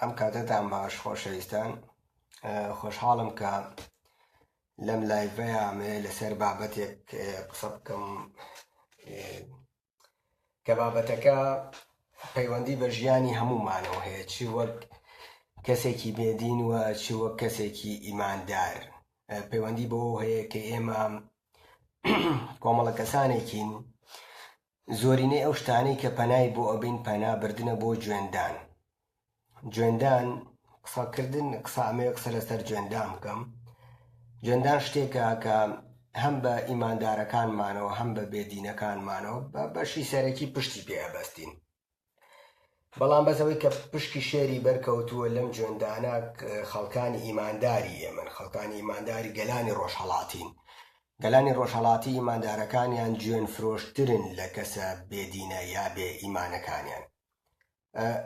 ئەم کاتەتان باش خۆشەویستان خۆشحاڵم کە لەم لایڤەیە ئەمەیە لەسەر بابەتێک قسە بکەم کە بابەتەکە پەیوەندی بە ژیانی هەمومانەوە هەیە چی وەک کەسێکی بێدین و چی وەک کەسێکی ئیماندار پەیوەندی بەوە هەیە کە ئێمە کۆمەڵە کەسانێکین زۆرینەی ئەو شتانەی کە پەنای بۆ ئەبەین پەنا بردنە بۆ جوێندان جوێندان قسە کردن قسە ئەمەوێ قسە لەسەر جوێندان بکەم جوێندان شتێکە کە هەم بە ئیماندارەکانمانەوە هەم بە بێدینەکانمانەوە بە بەشی سەرەکی پشتی پێ ئەبەستین بەڵام بەس ئەوەی کە پشکی شێری بەرکەوتووە لەم جوێندانە خەڵکانی ئیمانداری ئێمن خەڵکانی ئیمانداری گەلانی ڕۆژهەڵاتین گەلانی ڕۆژهەڵاتی ئیماندارەکانیان جوێن فرۆشترن لە کەسە بێدینە یا بێ ئیمانەکانیان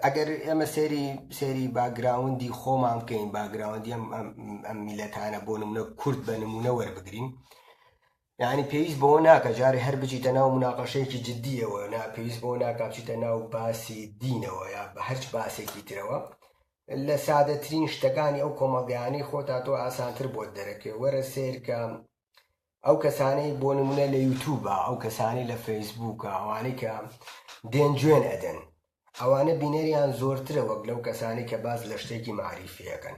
ئەگەر ئێمە سێری سێری باگراوندی خۆمان بکەین باگراوندی ئەم میلەتانە بۆ نمونە کورد بە نمونە وەربگرین یەعنی پێویست بەوە ناکا جارێ هەر بچیتە ناو مناقەشەیەکی جدییەوە نا پێویست بەوە ناکا بچیتە ناو باسی دینەوە یا بە هەرچ باسێکی ترەوە لە سادەترین شتەکانی ئەو کۆمەڵگەیانەی خۆتا تۆ ئاسانتر بۆت دەرەکەوێ وەرە سیر کە ئەو کەسانەی بۆ نمونە لە یوتوبە ئەو کەسانی لە فەیسبووکە ئەوانەی کە دێن جوێن ئەدەن ئەوانە بینەریان زۆرترە وەک لەو کەسانی کە باز لە شتێکی معریفیەکەن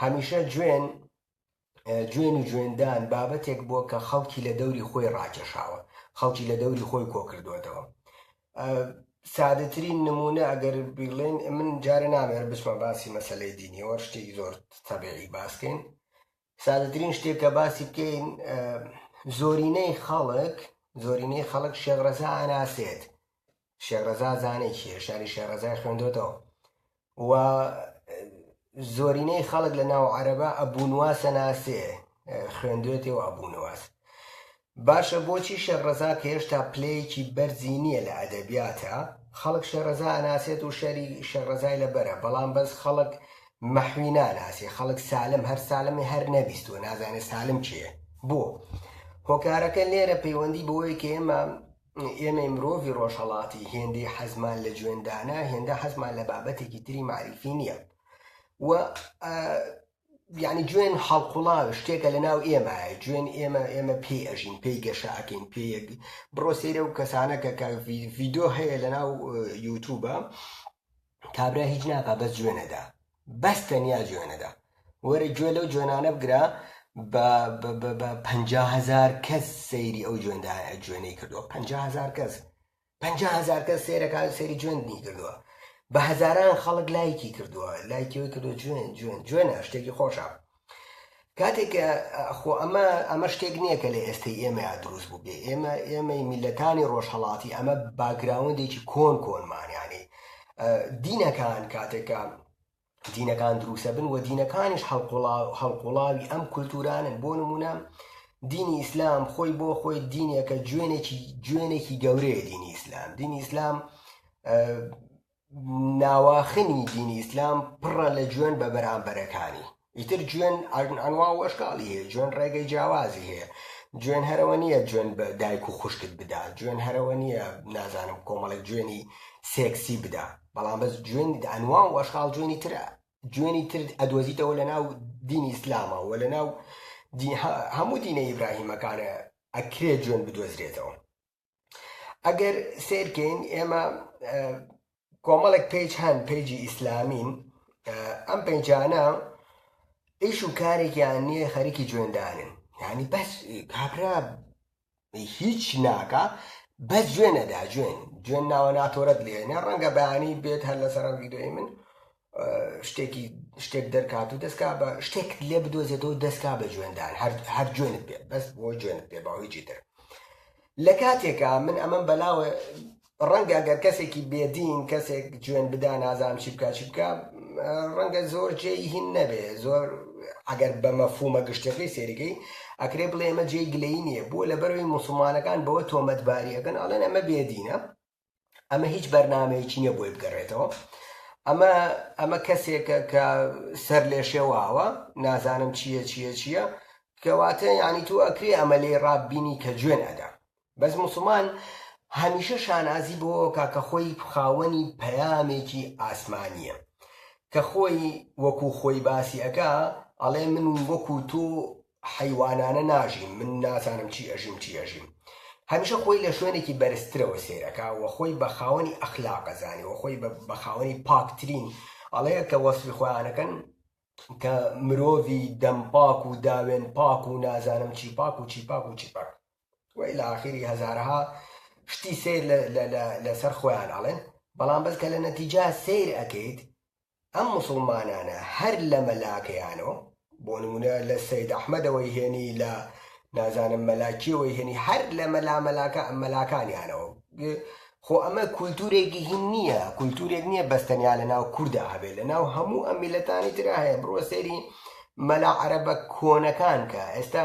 هەمیشە جوێن جوێن و جوێندان بابەتێک بووە کە خەڵکی لە دەوری خۆی ڕاکێشاوە، خەڵکی لە دەوری خۆی کۆکردووەتەوە. سادەترین نموونە ئەگەر بیڵێن، من جارێ نامێر بچمە باسی مەسەلەی دینیەوە، شتێکی زۆر تەبیعی باس کەین. سادەترین شتێک کە باسی بکەین، زۆرینەی خەڵک، زۆرینەی خەڵک شێخ ڕەزا ئەناسێت، شێخ ڕەزا زانای چیە هێشتانی شێخ ڕەزای خوێندۆتەوە و زۆرینەی خەڵک لە ناو عەرەبە ئەبوونوا سەناسێ خوێندوێتێ و ئەبوونواس باشە بۆچی شێخ ڕەزا کە هێشتا پلەیەکی بەرزی نییە لە ئەدەبیاتە خەڵک شێڕەزا ئەناسێت و شەری شێڕەزای لە بەرە بەڵام بەس خەڵک مەحوی ناناسی خەڵک سالم هەر سالمی هەر نەبیست و نازانێت سالم چیە بۆ هۆکارەکە لێرە پەیوەندی بۆیە کە ئێمە ئێمەی مرۆڤی ڕۆژهەڵاتی هێندەی حەزمان لە جوێندانە هێندە حەزمان لە بابەتێکی تری معریفی نییە و یعنی جوێن هەڵقوڵاو شتێکە لە ناو ئێمە جوێن ئێمە ئێمە پێی ئەژین پێی گەشەکەین پێ بڕۆ سەیرە و کەسانەکە کە ڤیددیو هەیە لە ناو یوتوبە کابرا هیچ ناکا بەس جوێن ئەدا بەس تەنیا جوێن ئەدا وەرە گوێ لەو جوێنانە بگرە بە بە بە بە پەنجا هەزار کەس سەیری ئەو جوێندا جوێنەی کردووە پەنجا هەزار کەس پەنجا هەزار کەس سەیرەکە سەیری جوێنی کردووە بە هەزاران خەڵک لایکی کردووە لایکی ئەوی کردووە جوێن جوێن جوێنە شتێکی خۆشە کاتێک کە خۆ ئەمە ئەمە شتێک نییە کە لە ئێستەی ئێمەیا دروست بوو بێ ئێمە ئێمەی میلەتانی ڕۆژهڵاتی ئەمە باگراوندێکی کۆن کۆنمانیانی دینەکان کاتێکە دینەکان دروسە بن و دینەکانیش هەڵقوڵاوی ئەم کولتورانن بۆ نمونە دینی ئیسلام خۆی بۆ خۆی دینێکە جوێنێکی جوێنێکی گەورەیە دینی ئیسلام دینی ئیسلام ناواخنی دینی ئیسلام پڕە لە جوێن بە بەرامبەرەکانی ئیتر جوێن ئەنوا و ئەشکاڵی هەیە جوێن ڕێگەی جیاوازی هەیە جوێن هەرەوە نییە جوێن بە دایک و خوشکت بدا جوێن هەرەوە نییە نازانم کۆمەڵێک جوێنی سێکسی بدا بەڵام بەس جوێن ئەنوا و ئەشکاڵ جوێنی ترە جوێنی تر ئەدۆزیتەوە لە ناو دینی ئیسلامە و لە ناو هەموو دینە ئیبراهیمەکانە ئەکرێ جوێن بدۆزرێتەوە ئەگەر سیرکەین ئێمە کۆمەڵێک پێج هەن پێجی ئیسلامین ئەم پێنجانە ئیش و کارێکیان نییە خەریکی جوێندانن ینی بەس کابرا هیچ ناکە بەس جوێنەدا جوێن جوێن ناوە ناتۆرەت لێنێ ڕەنگە بەیانی بێت هەر لە سەرم ویددیوی من شتێکی شتێک دەرکات و دەستکا بە شتێک لێ بدۆزێتەوە دەستکا بە جوێندان هەر جوێنت بێت بەس بۆ جوێنت پێ باویجی تر لە کاتێکا من ئەمەم بەلاوە ڕەنگە گەر کەسێکی بێدین کەسێک جوێن بدا نازانام چی بکە چی بکە ڕەنگە زۆر جێی هین نەبێ زۆر ئەگەر بە مەفومە گشتەکەی سێریگەی ئەکرێ بڵێ ئەمە جێی گلەی نییە بۆ لە بەروی مسلمانەکان بەوە تۆمەتباریەکەن ئەڵێن ئەمە بێدینە ئەمە هیچ بەرنمەیەکی نیە بۆی بگەڕێتەوە ئەمە ئەمە کەسێکە کە سەر لێ شێواوە نازانم چییە چییە چییە کەواتە ینی تو ئەکرێ ئەمە لێ ڕاببینی کە جوێن ئەدا بەس مسلمان هەمیشە شانازی بۆ کاکە خۆی خاوەنی پەیامێکی ئاسمانیە کە خۆی وەکو خۆی باسی ئەەکە ئەڵێ من وەکو تۆ حەیوانانە ناژین من نازانم چی ئەژیم چی ئەژیم هەمیشە خۆی لە شوێنێکی بەرزترەوە سەیر ئەکا وە خۆی بە خاوەنی ئەخلاق ئەزانێ وە خۆی بە خاوەنی پاکترین ئەڵێ کە وەسفی خۆیان ئەکەن کە مرۆڤی دەم پاک و داوێن پاک و نازانم چی پاک و چی پاک و چی پاک وە لە ئاخیری هەزارەها شتی سیر لەسەر خۆیان ئەڵێن بەڵام بەس کە لە نەتیجە سیر ئەکەیت ئەم موسڵمانانە هەر لە مەلاکەیانۆ بۆ نمونە لە سەید ئەحمەدەوەی هێنی لە نازانم مەلا کێوەی هێنی هەر لە مەلا مەلاکە مەلاکانیانەوە خۆ ئەمە کولتورێکی هین نییە کولتورێک نییە بەستەنیا لە ناو کووردا هەبێت لە ناو هەموو ئەم میلەتانی ترا هەیە بڕۆ سەیری مەلا عەرەبە کۆنەکان کە ئێستا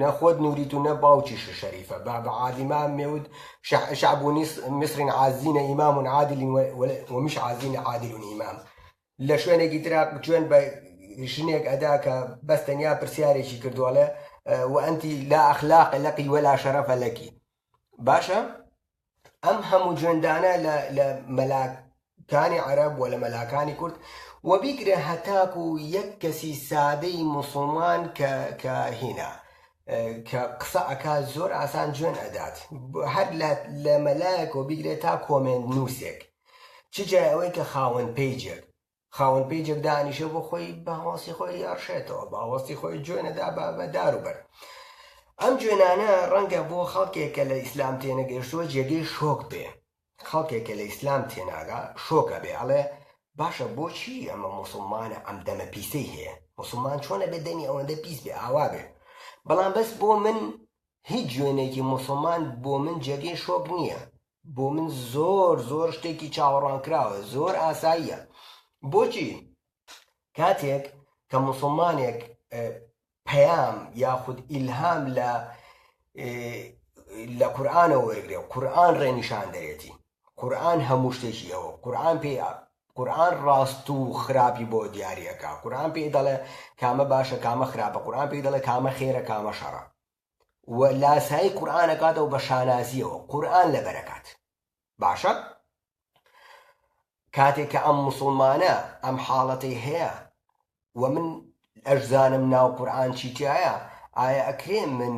نە خۆت نوریت و نە باوکیشت شەریفە بە بە عادیما مێود شعب و میسرین عازینە ئیمام و عادل ومیش عازینە عادل و ئیمام لە شوێنێکی ترا جوێن بە ژنێک ئەدا کە بەس تەنیا پرسیارێکی کردووەڵێ وئەنتی لا ئەخلاق لەقی وەلا شەرەفە لەکی باشە ئەم هەموو جوێندانە لە لە مەلاکانی عەرەب و لە مەلاکانی کورد و بیگرە هەتاک و یەک کەسی سادەی مسلمان کە کە هینا کە قسە ئەکا زۆر ئاسان جوێن ئەدات هەر لە مەلایەک و بیگرێت تا کۆمێن نووسێک چجای ئەوەی کە خاوەن پیجێک خاوەن پەیجێک دانیشێ بۆ خۆی بە هەواسی خۆی ئەڕشێتەوە بە هەواستی خۆی جوێنەدا بە بە دار و بەر ئەم جوێنانە ڕەنگە بۆ خەڵکێک کە لە ئیسلام تێنەگەشتووە جێگەی شۆک بێ خەڵکێک کە لە ئیسلام تێناگا شۆکە بێ ئەڵێ باشە بۆچی ئەمە موسڵمانە ئەم دەمە پیسەی هەیە موسڵمان چۆنە بێ دەمی ئەوەندە پیس بێ ئاوا بێ بەڵام بەس بۆ من هیچ جوێنێکی موسڵمان بۆ من جێگەی شۆک نییە بۆ من زۆر زۆر شتێکی چاوەڕوانکراوە زۆر ئاساییە بۆچی کاتێک کە مسلمانێک پەیام یاخود ئیلهام لە لە قورآانەوە وەرگێ و قورآان ڕێنیشان دەێتی قورآان هەموو شتێکی ئەوە قورآان پێ قورآان ڕاست و خراپی بۆ دیارەکە قورآان پێی دەڵێ کامە باشە کامە خراپە قورآان پێی دەڵێ کامە خێرە کامە شەڕە و لاسایی قورئان ئەکاتەوە بە شانازییەوە قورئان لەبەر ئەکات باشە کاتێک کە ئەم مسوڵمانە ئەم حاڵەتەی هەیە و من ئەشزانم ناو قورئان چی تایە ئایا ئەکرێ من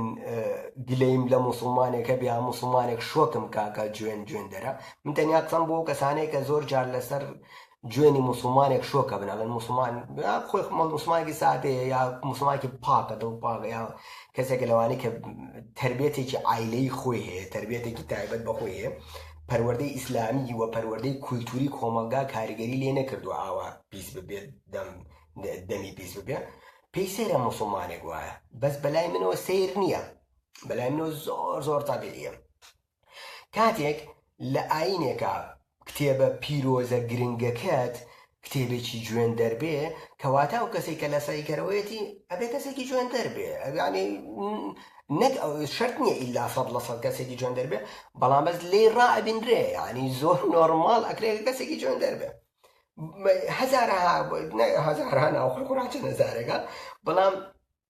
گلەیم لە مسلمانێکە بیا مسلمانێک شۆکم کاکە جوێن جوێن دەرە من تەنیا قسەم بۆ کەسانێک کە زۆر جار لەسەر جوێنی موسڵمانێک شۆکە بناڵێن موسڵمان خۆی موسڵمانێکی سادەیە یا موسڵمانێکی پاکە دڵ پاکە یا کەسێکە لەوانەیە کە تربێتێکی عیلەی خۆی هەیە تربێتێکی تایبەت بەخۆی هەیە پەروەردەی ئیسلامی وە پەروەردەی کولتوری کۆمەلگا کاریگەری لێ نەکردو ئاوا پیس ببێت دەم دەمی پیس ببێ پێی سەیرە مسلمانێک وایە بەس بەلای منەوە سیر نییە بەلای منەوە زۆر زۆر تابیعە کاتێک لە ئایینێکا کتێبە پیرۆزە گرنگەکەت کتێبێکی جوێندەر بێ کەواتە ئەو کەسەی کە لەسەعی کەرەوەیەتی ئەبێ کەسێکی جوێندەر بێ ئەگانی نەک ئەو شرت نییە ئیلا سەد لە سەد کەسێکی جوێندەر بێ بەڵام بەس لێی ڕائبینرێ ینی زۆر نۆرمال ئەکرێ کەسێکی جوێندەر بێ هەزارەها هەزاران ئەو خەڵکوڕاتە نەزارەکە بەڵام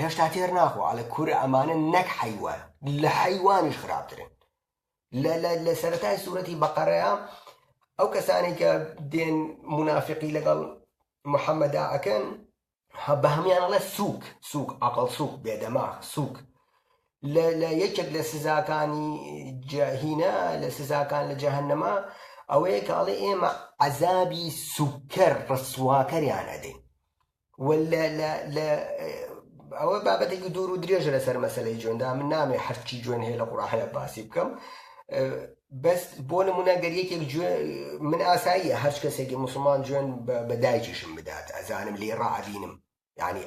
هێشتا تێر ناخۆ ئەڵێ کورە ئەمانە نەک حەیوان لە حەیوانیش خراپترن لە لە لە سەرەتای سوورەتی بەقەرەیە ئەو کەسانی کە دێن منافقی لەگەڵ محەممەدا ئەکەن بە هەمان ئەڵێ سووک سووک ئەقل سووک بێدەماغ سووک لە لە یەکێک لە سزاکانی جاهینە لە سزاکان لە جەهنەما ئەوەیە کە ئەڵێ ئێمە عەزابی سوکەر ڕسواکەریان ئەدەین واللە لە لە ئەوە بابەتێکی دوور و درێژە لەسەر مەسلەی جوێندا من نامێ حەفتکی جوێن هەیە لە قوڕاحەیە باسی بکەم بەس بۆ نمونە گەر یەکێک من ئاساییە هەر کەسێکی مسلمان جوێن بە دایکیشم بدات ئەزانم لێ ڕعبینم ینی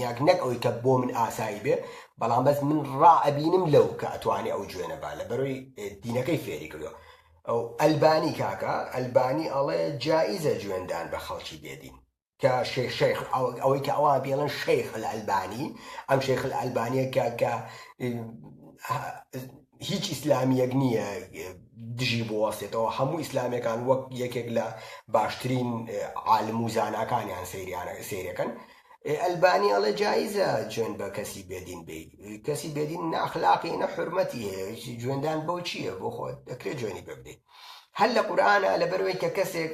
یاک نەک ئەوی کە بۆ من ئاسایی بێ بەڵام بەس من ڕعبینم لەو کە ئەتوانێ ئەو جوێنە با لە بەرۆی دینەکەی فێری کردو ئەو ئەلبانی کاکە ئەلبانی ئەڵێ جاییزە جوێندان بە خەڵکی بێدین کە شێخ شێخ ئەوەی کە ئەوان پێڵن شەیخ الالبانی ئەم شێخ الالبانیە کە کە هیچ ئیسلامیەک نییە دژی بوەستێتەوە هەموو ئیسلامەکان وەک یەکێک لە باشترین عالم و زاناکانیان سریانە سێرەکەن ئەلبانی ئەڵێ جاییزە جوێن بە کەسی بێدین بی کەسی بێدین ناخلاقی نە حرمەتی هەیە جوێندان بۆ چییە بۆ خۆت دەکرێت جوێنی ببدەیت هەر لە قورآە لە بەروێت کە کەسێک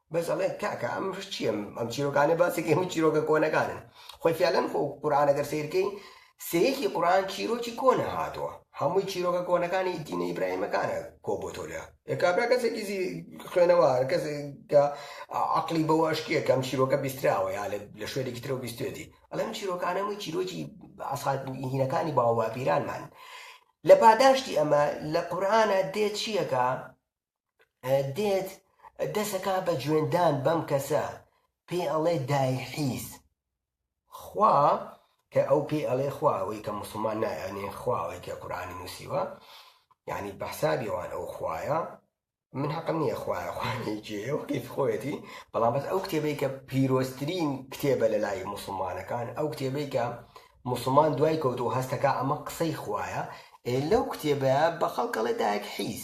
بەس ئەڵێ کاکە ئەم چیە ئەم چیرۆکانە باسێکی هەموو چیرۆکە کۆنەکانن خۆی فیالەن خۆ قورآانە گەر سیرکەی سەیەکی قورآان چیرۆکی کۆنە هاتووە هەمووی چیرۆکە کۆنەکانی دینە ئیبراهیمەکانە کۆ بۆ تۆ لە کابرا کەسێکی خوێنەوە کەسێکە عقلی بەوە ئەشکیە کەم چیرۆکە بیستراوە یا لە شوێنێکی ترەوە بیستێتی ئەڵم چیرۆکانەمەی چیرۆکی ئاسخاتهینەکانی باوە پیرانمان لە پاداشتی ئەمە لە قورآانە دێت چیەکە دێت دەسەکا بە جوێندان بەم کەسە پێی ئەڵێ دای حیز خوا کە ئەو پێی ئەڵێ خوا ئەوەی کە مسلمان نایانێ خواوەی کە قورآانی نووسیوە یعنی بە حسابیوان ئەو خوایە من حەقم نییە خوایە خوانێکیەوەی خۆیەتی بەڵام بەس ئەو کتێبەی کە پیرۆسترین کتێبە لە لای مسلمانەکان ئەو کتێبەی کە مسلمان دوای کەوت و هەستەکە ئەمە قسەی خوایە لەو کتێبە بە خەڵکەڵێ دایک حیز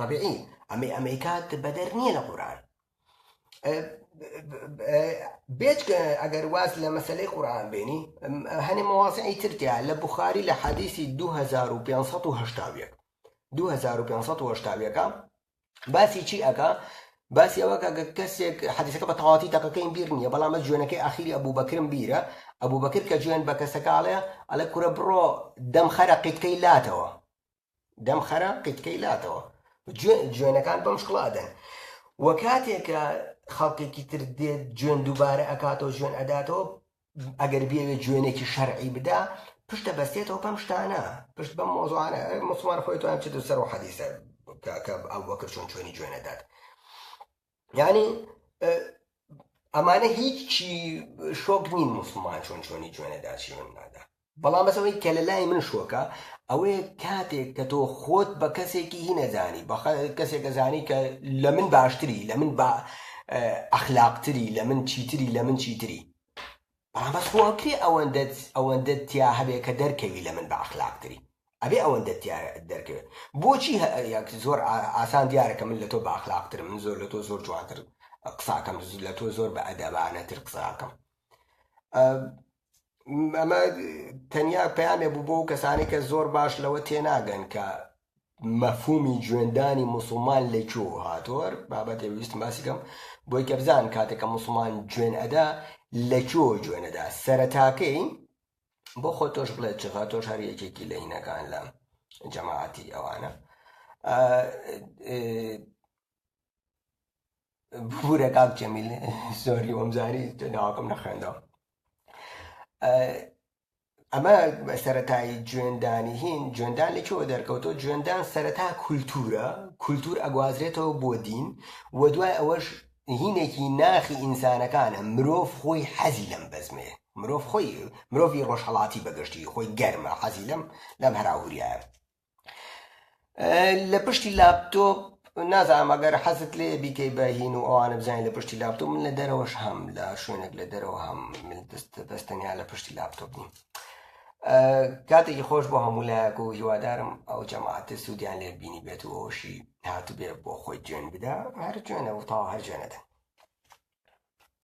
طبیعی ئەمەی ئەمەیکات بەدەر نییە لە قورآن بێچکە ئەگەر واز لە مەسلەی قورآن بێنی هەنێ مەوازعی ترتیا لە بخاری لە حەدیسی 2570 2570ەکە باسی چی ئەگا باسی ئەوە کە کەسێک حەدیسەکە بە تەواتی تەقەکەی بیر نییە بەڵام ئە جوێنەکەی ئاخیری ئەبوو بەکرم بیرە ئەبوو بەکر کە جوێن بە کەسەکەڵێ ئەلە کورە بڕۆ دەم خەرە قیتکەی لاتەوە دەم خەرە قیتکەی لاتەوە جوێن جوێنەکان بەم شکڵا دەن وە کاتێک کە خەڵکێکی تر دێت جوێن دووبارە ئەکاتەوە جوێن ئەداتەوە ئەگەر بێوێت جوێنێکی شەرعی بدا پشتە بەستێتەوە پەم شتانە پشت بەم مۆزوانە مسلمان خۆی توان چێت سەر و حەدیسە کە ئەو وەکر چۆن چۆنی جوێنەدات یعنی ئەمانە هیچی شۆک نین مسلمان چۆن چۆنی جوێنەدا چیون نادا بەڵام بەسەوەی کە لە لای من شۆکە ئەوەیە کاتێک کە تۆ خۆت بە کەسێکی هی نەزانی بە کەسێک دەزانی کە لە من باشتری لە من با ئەخلاقتری لە من چیتری لە من چیتری بەڵام بەس خۆ ئەکرێ ئەوەندەت ئەوەندەت تیا هەبێ کە دەرکەوی لە من بە ئەخلاق تری ئەبێ ئەوەندەت تیا دەرکەوێ بۆچی هە یەک زۆر ئاسان دیارە کە من لە تۆ بە ئەخلاق ترم من زۆر لە تۆ زۆر جوانتر قساکەم لە تۆ زۆر بە ئەدەبانە تر قساکەم ئەمە تەنیا پامێ بوو بۆ کەسانی کە زۆر باش لەوە تێناگەن کە مەفهومی جوێندانی موسڵمان لە کوێ هاتووە بابەتێ ویستم باسی کەم بۆی کە بزان کاتێکە موسڵمان جوێن ئەدا لە کوێ جوێنەدا سەرەتاکەی بۆ خۆ تۆش بڵێت چغا تۆش هەر یەکێکی لە هینەکان لە جەماعەتی ئەوانە بورە کاک جەمیل زۆری وەمزاری ناوەکەم نەخوێندەوە ئەمە سەرەتای جوێندانی هین جوێندان لە چۆ دەرکەوتۆ جوێندان سەرەتا کولتورە کولتور ئەگوازرێتەوە بۆ دین و دوای ئەوەش هینێکی ناخی ئینسانەکانە مرۆڤ خۆی حەزی لەم بەزمێ مرۆڤ خۆی مرۆڤی ڕۆژهڵاتی بەگشتی خۆی گەرمە حەزی لەم لەم هەراهوریایە لە پشتی لاپتۆپ نازانم ئەگەر حەزت لێ بیکەی بە هین و ئەوانە بزانین لە پشتی لاپتۆپ من لە دەرەوەش هەم لە شوێنێک لە دەرەوە هەم بەستەنیا لە پشتی لاپتۆپ نیم کاتێکی خۆش بۆ هەموو لایەک و هیوادارم ئەو جەماعاتە سوودیان لێ بینی بێت و ئەوشی هاتبێ بۆ خۆی جوێن بدا هەر جوێنە و تاوا هەر جوێنەدەن